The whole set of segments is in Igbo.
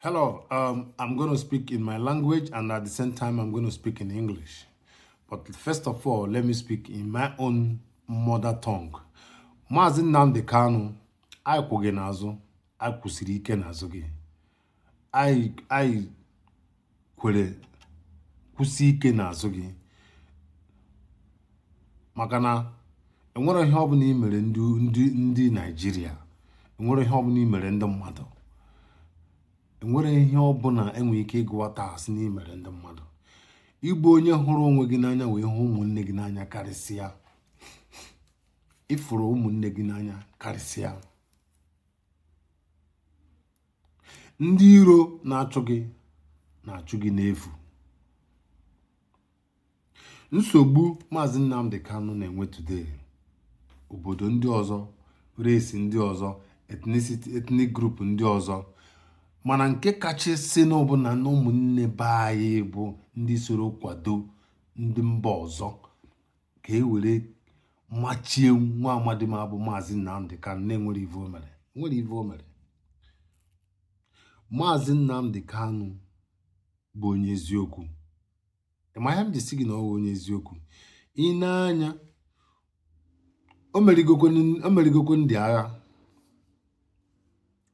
Hello, um, I'm going to speak in my language and at the same time I'm going to speak in English. But first of all, let me speak in my own mother tongue. Maazị Nnamdi Kanu, anyị kwụ gị n'azụ, anyị kwụsiri ike n'azụ gị. Anyị kwere kwụsie ike n'azụ gị maka na enwere ihe ọbụla i mere ndị ndị ndị naijiria enwere ihe ọbụla i mere ndị mmadụ enwere ihe ọbụla enwere ike ịgụwata sị n'i mere ndị mmadụ ị bụ onye hụrụ onwe gị n'anya wee hụ ụmụnne gị n'anya karịsịa ị fụrụ ụmụnne gị n'anya karịsịa ndị iro na-achụ gị na-achụ gị n'efu nsogbu maazị Nnamdi Kanu na-enwe today obodo ndị ọzọ race ndị ọzọ ethnicity ethnic group ndị ọzọ mana nke kachasị na ọbụna na ụmụnne be anyị bụ ndị soro kwado ndị mba ọzọ ka e were machie nwa amadi ma bụ maazị Nnamdi Kanu na enwere ive o mere nwere ive o mere maazị Nnamdi Kanu bụ onye eziokwu ị ma ihe m ji sị gị na ọ bụ onye eziokwu i nee anya o merigokwe ndị agha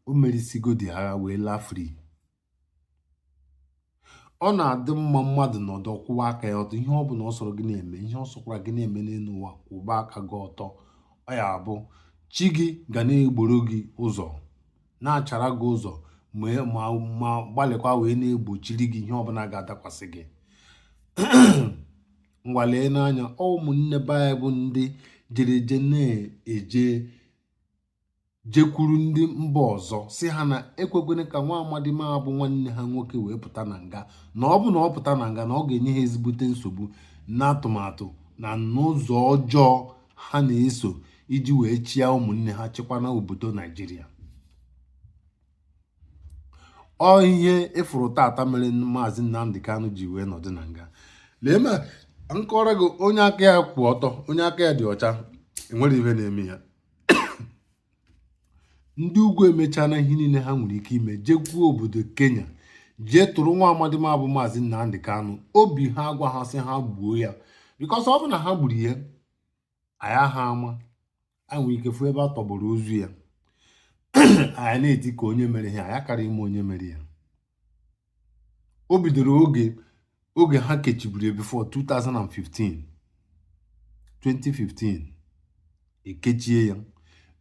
o merisigo ndị agha wee laa free ọ na-adị mma mmadụ nọdụ kwụwa aka ya ọtọ ihe ọ bụla ọ sọrọ gị na-eme ihe ọ sọkwara gị na-eme n'elu ụwa kwụba aka gị ọtọ ọ ya-abụ chi gị ga na-egboro gị ụzọ na-achara gị ụzọ ma gbalịkwa wee na-egbochiri gị ihe ọbụla ga-adakwasị gị ngwa leenụ anya ụmụnne be anyị bụ ndị jereje na-eje jekwuru ndị mba ọzọ sị ha na ekwekwene ka nwa amadi ma bụ nwanne ha nwoke wee pụta na nga na ọ bụ na ọ pụta na nga na ọ ga-enye ha ezigbote nsogbu na atụmatụ na n'ụzọ ọjọọ ha na-eso iji wee chịa ụmụnne ha chịkwa na obodo naijiria ọ ihe ị fụrụ tata mere maazị nnamdi kanu ji wee nọdụ na nga lee ma m kọọrọ gị onye aka ya kwụ ọtọ onye aka ya dị ọcha enwere ihe na-eme ya ndị ugwu emechana ihe niile ha nwere ike ime jekwuo obodo kenya jee tụrụ nwa amadi ma bụ maazị nnamdi kanu obi ha agwa ha sị ha gbuo ya because ọ bụ na ha gburu ya anyị aha ama anyị nwere ike fụ ebe a tọgbọrọ ozu ya anyị na-eti ka onye mere ihe anyị akara ịma onye mere ya o bidoro oge ha kechiburu ya before 2015 2015 ekechie ya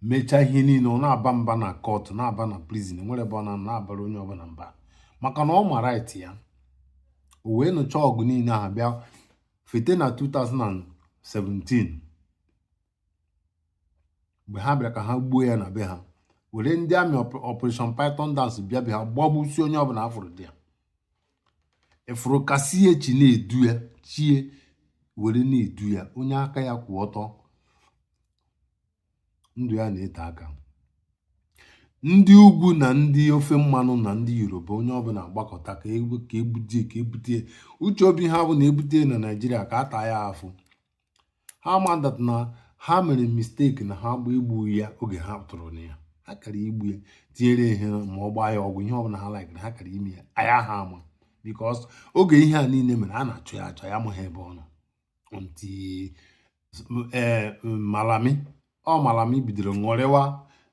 mechaa ihe niile ọ na-aba mba na kọtụ na-aba na prizin enwere ebe ọ na na-abara onye ọbụla mba maka na ọ ma rait ya o wee nụcha ọgụ niile ahụ bịa fete na 2017 mgbe ha bịara ka ha gbuo ya na be ha were ndị amị operation python dance bịa be ha gbagbusi onye ọbụla afụrụ dị ya ị fụrụ ka esi chi na-edu ya chi ya were na-edu ya onye aka ya kwụ ọtọ ndụ ya na-ete aka ndị ugwu na ndị ofe mmanụ na ndị yoruba onye ọbụla agbakọta ka ebute ka ebute uche obi ha bụ na ebute ya na naijiria ka a taa ya afụ ha ma that na ha mere mistake na ha gba igbu ya oge ha tụrụ na ya ha kara igbu ya tinyere ihe ma ọ gbaa ya ọgwụ ihe ọbụla ha like na ha kara ime ya aya ha ama because oge ihe a niile mere a na-achọ ya achọ ya amaghị ebe ọ nọ until eh, malami ọ malami bidoro ṅụrịwa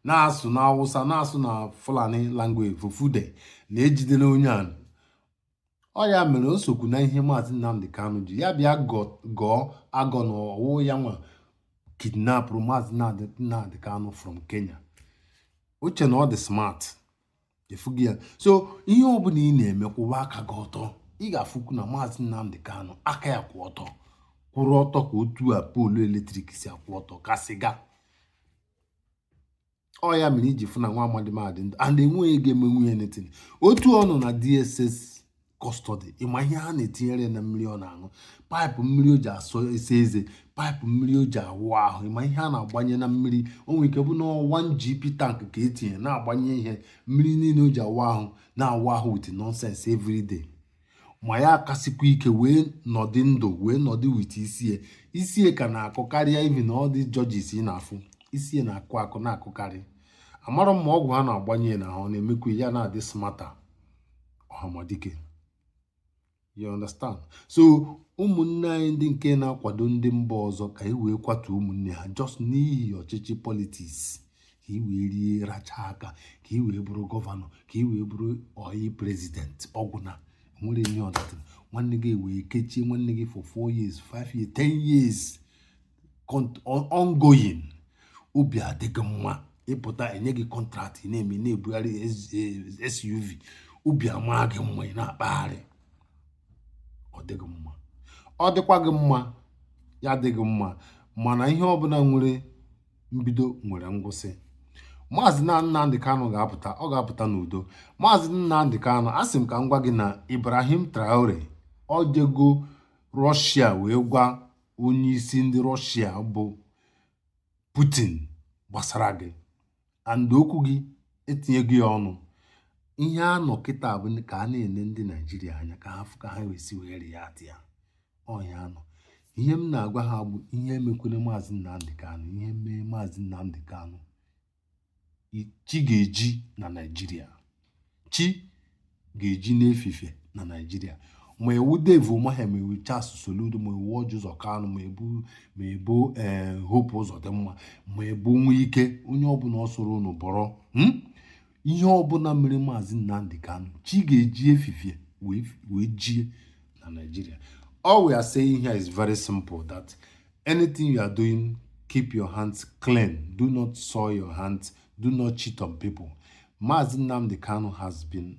na-asụ na awụsa na-asụ na fulani language fufude na ejidela onye a ọ ya mere o sokwu na ihe maazị Nnamdi Kanu ji ya bịa gọọ agọ na ọ wụ ya nwa kidnapụrụ maazị Nnamdi Kanu from Kenya o che na ọ dị smart ị fụgo ya so ihe ọbụla ị na-eme kwụwa aka gị ọtọ ị ga-afụkwu na maazị Nnamdi Kanu aka ya kwụ ọtọ kwụrụ ọtọ ka otu a poolu eletrik si akwụ ọtọ ka sịga ọ ya mere i ji fụ na nwa amadi m a dị ndụ and enweghị ihe ga-emenwu ya nothing otu ọ nọ na dss custody ị ma ihe ha na-etinyere na mmiri ọ na-aṅụ paịpụ mmiri o ji asọ ese eze paịpụ mmiri o ji awụ ahụ ị ma ihe a na-agbanye na mmiri o nwere ike bụ na 1 GP tank ka etinye na-agbanye ihe mmiri niile o ji awụ ahụ na-awụ ahụ with nonsense everyday ma ya akasikwa ike wee nọdị ndụ wee nọdị with isi ya isi ya ka na-akụ karịa even all these judges ị na-afụ isi ya na-akụ akụ na-akụkarị amarọ m ma ọgwụ ha na-agbanye ya n'ahụ na-emekwu ya na-adị smarter ọhamadike you understand so ụmụnne anyị ndị nke na-akwado ndị mba ọzọ ka e wee kwatuo ụmụnne ha just n'ihi ọchịchị politiks ka i wee rie racha aka ka i wee bụrụ gọvanọ ka i wee bụrụ ọyị prezidenti ọ wụ na enwere ihe ọ dara nwanne gị e wee kechie nwanne gị for 4 years 5 years 10 years ongoing obi adị gị mma ị pụta enye gị contract ị na-eme na-ebugharị SUV obi amaa gị mma ị na-akpagharị ọ dị gị mma ọ dịkwa gị mma ya dị gị mma mana ihe ọbụla nwere mbido nwere ngwụsị maazị Nnamdi Kanu ga-apụta ọ ga-apụta n'udo maazị Nnamdi Kanu asị m ka m gwa gị na Ibrahim Traore ọ jego rọshia wee gwa onye isi ndị rọshia bụ Putin gbasara gị and okwu gị etinyego ya ọnụ ihe a nọ kịta bụ ka a na-ele ndị Naijiria anya ka ha fụ ka ha wee si were ya ọ ihe a nọ ihe m na-agwa ha bụ ihe mekwere maazị Nnamdi Kanu ihe mee maazị Nnamdi Kanu chi ga-eji na Naịjirịa chi ga-eji n'efifie na Naịjirịa ma ị wụ Dave Umahi ma ị wụ Charles Soludo ma ị wụ Orji Uzor Kalu ma ị bụ ma ị bụ ee eh, Hope Uzodimma ma ị bụ Nwike onye ọbụla ọ sọrọ unu bụrụ hmm? ihe ọbụla mere maazị Nnamdi Kanu chi ga-eji efifie wee jie na Naịjirịa all we are saying here is very simple that anything you are doing keep your hands clean do not soil your hands do not cheat on people maazị Nnamdi Kanu has been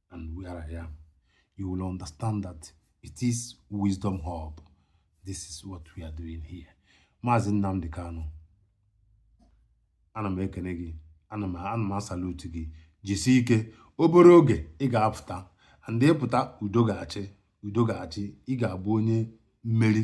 and where I am, you will understand that it is Wisdom Hub. This is what we are doing here. Maazị Nnamdi Kanu, ana m ekene gị, ana m ana m asalute gị, jisie ike, obere oge ị ga-apụta, and ị pụta udo ga-achị, udo ga-achị, ị ga-abụ onye mmeri.